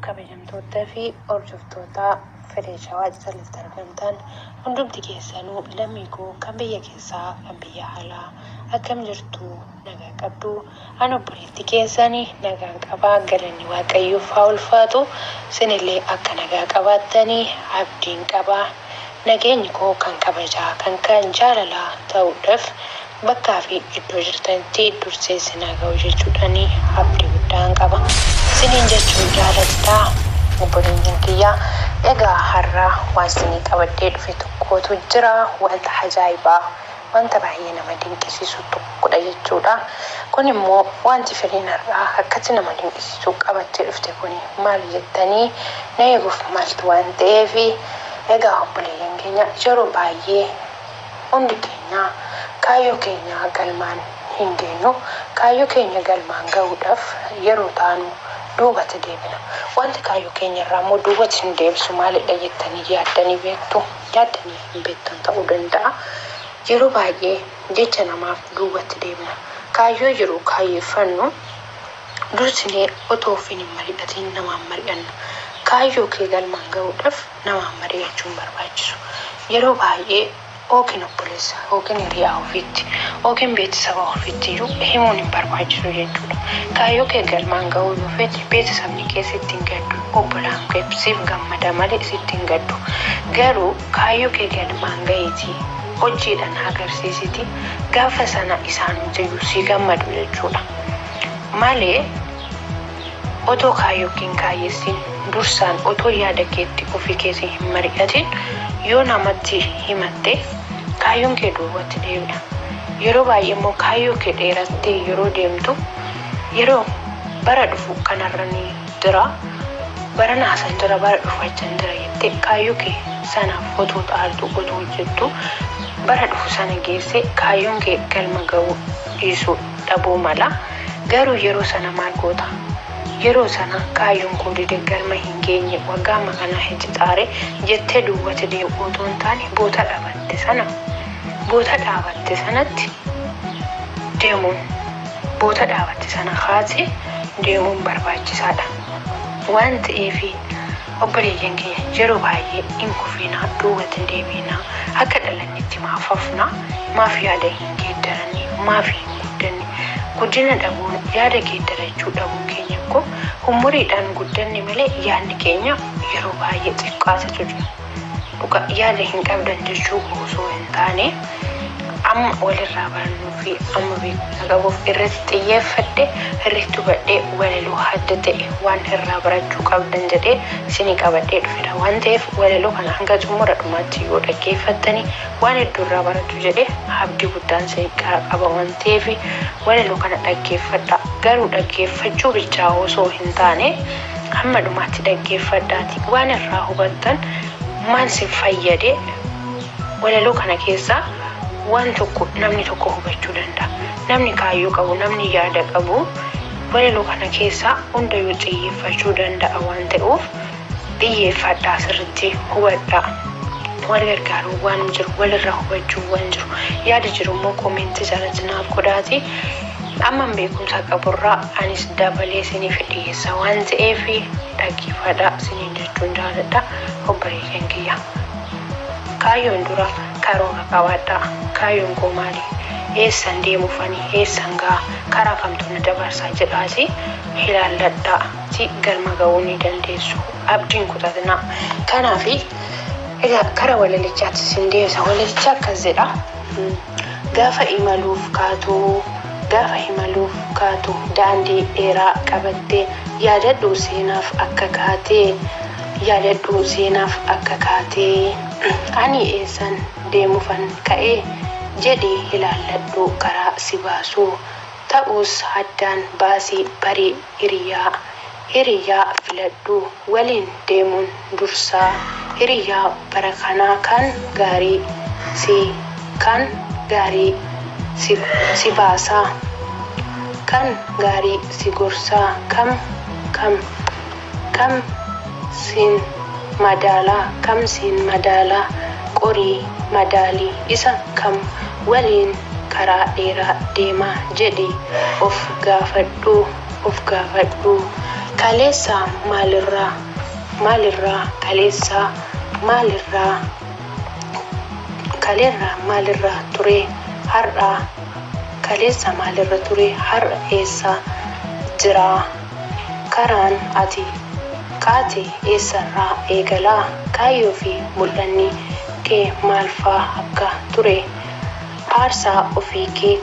kabajamtoota fi hordoftoota fireeshawaa jalatti argamtan hundumti keessanuu lammii koo kan biyya keessaa kan biyya alaa akkam jirtu nagaa qabdu An obboleetti keessani nagaan qaba galanni waaqayyoof haa ulfaatu sinillee akka nagaa qabaattani abdiin qaba nageenyi koo kan kabajaa kan kan jaalalaa ta'uudhaf bakkaa fi iddoo jirtanitti dursee sin haa ga'u jechuudhani abdii guddaan qaba siniin jechuun jaaladha obboleeyyan kiyya egaa har'a waan sinii qabadhee dhufe tokkootu jira wanta hajaa'ibaa wanta baay'ee nama dinqisiisu tokkodha jechuudha. Kun immoo wanti firiin har'aa akkatti nama dinqisiisu qabattee dhufte kun maali jettanii na eeguuf maltu waan ta'eef egaa obboleeyyan keenya yeroo baay'ee hundi keenya kaayyoo keenya galmaan hin geenyu. Kaayyoo keenya galmaan gahuudhaaf yeroo taanu duubatti deebina. Wanti kaayyoo keenya irraa immoo duubatti nu deebisu maalidha jettanii yaaddanii beektu? yaaddanii hin beektan ta'uu danda'a. Yeroo baay'ee jecha namaaf duubatti deebina. Kaayyoo jiru kaayyeffannu dursinee otoo ofiin hin mari'atiin namaan mari'anna. Kaayyoo kee galmaan ga'uudhaf namaan mari'achuu hin barbaachisu. Yeroo baay'ee ykn obboleessa. ykn hiriyaa ofiitti ykn beetisaba ofiittiyyuu himuun hin barbaachisu jechuudha. Kaayyoo kee galmaan gahuu yoo feete beetisabni kee sitti hin gaddu, obbolaan kee siif gammada malee sitti hin gaddu. Garuu kaayyoo kee galmaan gahiitii hojiidhaan agarsiisitii gaafa sana isaanumtiyyuu sii gammadu jechuudha malee, Otoo kaayyoo kee hin kaayyessiin, dursaan otoo yaada keetti ofii keetii hin mari'atiin yoo namatti himatte kaayyoon kee duubatti deebi'a. Yeroo baay'ee immoo kaayyoo kee dheerattee yeroo deemtu yeroo bara dhufu kanarran jira, barana asan jira, bara dhufu achan jira jettee kaayyoo kee sanaaf otoo xaartuu, otoo hojjettuu bara dhufu sana geessee kaayyoon kee galma ga'uu dhiisuu dhabuu mala. Garuu yeroo sana maal goota? Yeroo sana kaayyoon koo dide galma hin geenye waggaa amma kanaa hin cixaare jettee duwwati deebi'uu otoo hin taane boota dhabatte sana boota dhaabatte sanatti deemuun boota dhaabatte sana kaasee deemuun barbaachisaa dha waan ta'eef obboleeyyan keenya yeroo baay'ee hin kufiinaa duwwati hin deebi'inaa akka dhalannetti maaf hafnaa maaf yaada hin geeddaranne maaf hin guddanne Guddina dhabuun, yaada geeddarachuu dhabuu keenyaan koo ummuriidhaan guddanne malee yaadni keenya yeroo baay'ee xiqqaatetu jira. Dhugaa yaada hin qabdan jechuu koo osoo hin taane amma walirraa barannuu fi amma beekumsa qabuuf irratti xiyyeeffadhe irratti hubadhee walaloo hadda ta'e waan irraa barachuu qabdan jedhee isinii qabadhee dhufera waan ta'eef walaloo kana hanga xumura dhumaatti yoo dhaggeeffattani waan heddu irraa baratu jedhe abdi guddaan sin qara qaba wan ta'eefi walalo kana dhaggeeffadha garu dhaggeeffachu bichaa oso hin taane hamma dhumaatti dhaggeeffadhaati waan irraa hubattan maal sin fayyade walalo kana keessaa waan tokko namni tokko hubachu danda'a namni kaayyo qabu namni yaada qabu walalo kana keessaa hundayu xiyyeeffachu danda'a waan ta'euf Dhiyyeeffadhaa sirritti hubadhaa. Wal gargaaruun waan jiru walirraa hubachuun waan jiru yaada jiru immoo koomeentii jalatti naaf godhaatii amman beekumsa qaburraa anis dabalee isiniif dhiyeessa waan ta'eef dhaggeeffadhaa isiniin jechuun jaaladha obboleeyyan kiyya. Kaayyoon dura karoora qabaadhaa kaayyoon koo maali eessan deemuufani eessan ga'a karaa kamtu na dabarsaa jedhaasii ilaalladhaa. tti galma ga'uu ni dandeessu. Abdii hin kutatinaa. Kanaafi, egaa kara walalichaatti isin deebisa. Walalichi akkas jedha. Gaafa imaluuf kaatu, gaafa imaluuf kaatu daandii dheeraa qabattee yaadadhu seenaaf akka kaate, yaadadhu seenaaf akka kaate ani eessan deemufan ka'e jedhii ilaalladhu karaa si baasu ta'us addaan baasii bari. Hiriyaa, Hiriyaa filadhu waliin deemuun dursaa Hiriyaa bara kanaa kan gaarii si kan gaarii si si baasaa Kan gaarii si gorsaa Kam kam kam siin madaala kam siin madaala Qorii madaali isa kam waliin karaa dheeraa deema jedhi of gaafadhu of gaafadhu kaleessa maalirraa maalirraa kaleessa maalirraa kaleerra maalirra ture har'a kaleessa maalirra ture har'a eessa jira karaan ati kaate eessarraa eegala kaayyoo fi mul'anni kee maalfaa akka ture Aarsaa ofii kee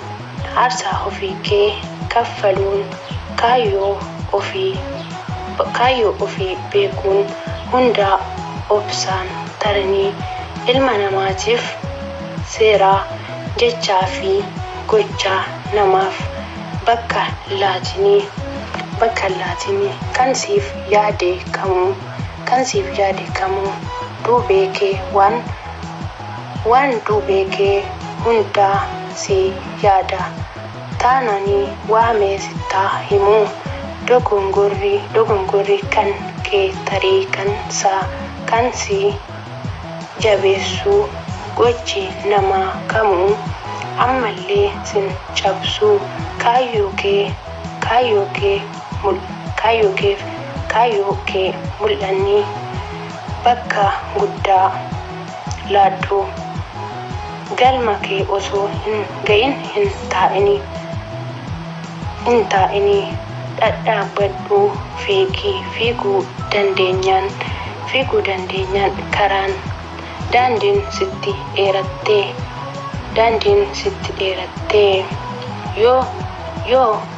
Aarsaa ofii kee kaffaluun kaayyoo ofii Kaayyoo ofii beekuun hundaa obsaan taranii ilma namaatiif seeraa jechaa fi gochaa namaaf bakka laatinii bakka laatinii kan siif yaade kamuu kan siif yaade kamuu duubee kee waan Waan duubee kee hundaa sii yaada taanani waa mee sittaa himuu dogongorri dogongorri kan kee tarii kan saa kan sii jabeessuu gochi namaa kamuu ammallee sin cabsuu kaayyoo kee kaayyoo kee mul kaayyoo keef kaayyoo kee mul'anni Bakka guddaa laadhu. Galma kee osoo hin ga'in hin taa'ini. Hin taa'ini. Dhadhaabbadhu fiigi. Fiiguu dandeenyaan fiiguu dandeenyaan karaan, daandiin sitti dheerattee. Daandiin sitti dheerattee. Yoo yoo.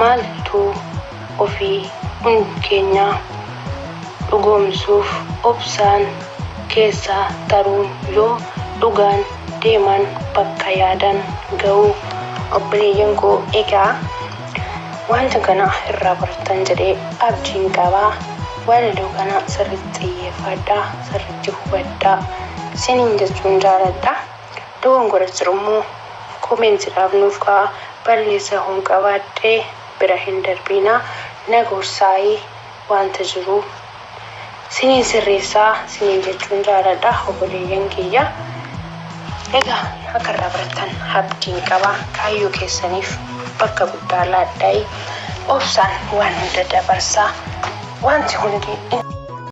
Maaltuu ofii hund keenyaa dhugoomsuuf obsaan keessa taruun yoo dhugaan deeman bakka yaadan ga'uu. Obboleeyyan koo egaa wanta kana irraa bartan jedhee abdiin qaba. Walaloo kana sirritti xiyyeeffaadhaa, sirritti hubadhaa siniin jechuun jaaladha. dogongora jirummo comment dhaaf nuuf ka'a balleessa hon qabaadhe bira hin darbiina na gorsaayi wanta jiruu siniin sirreessaa siniin jechuun jaaladha oboleeyyan kiyya egaa akka irraa barattan abdiin qaba kaayyoo keessaniif bakka guddaa laadhaayi obsaan waan hunda dabarsaa wanti hundi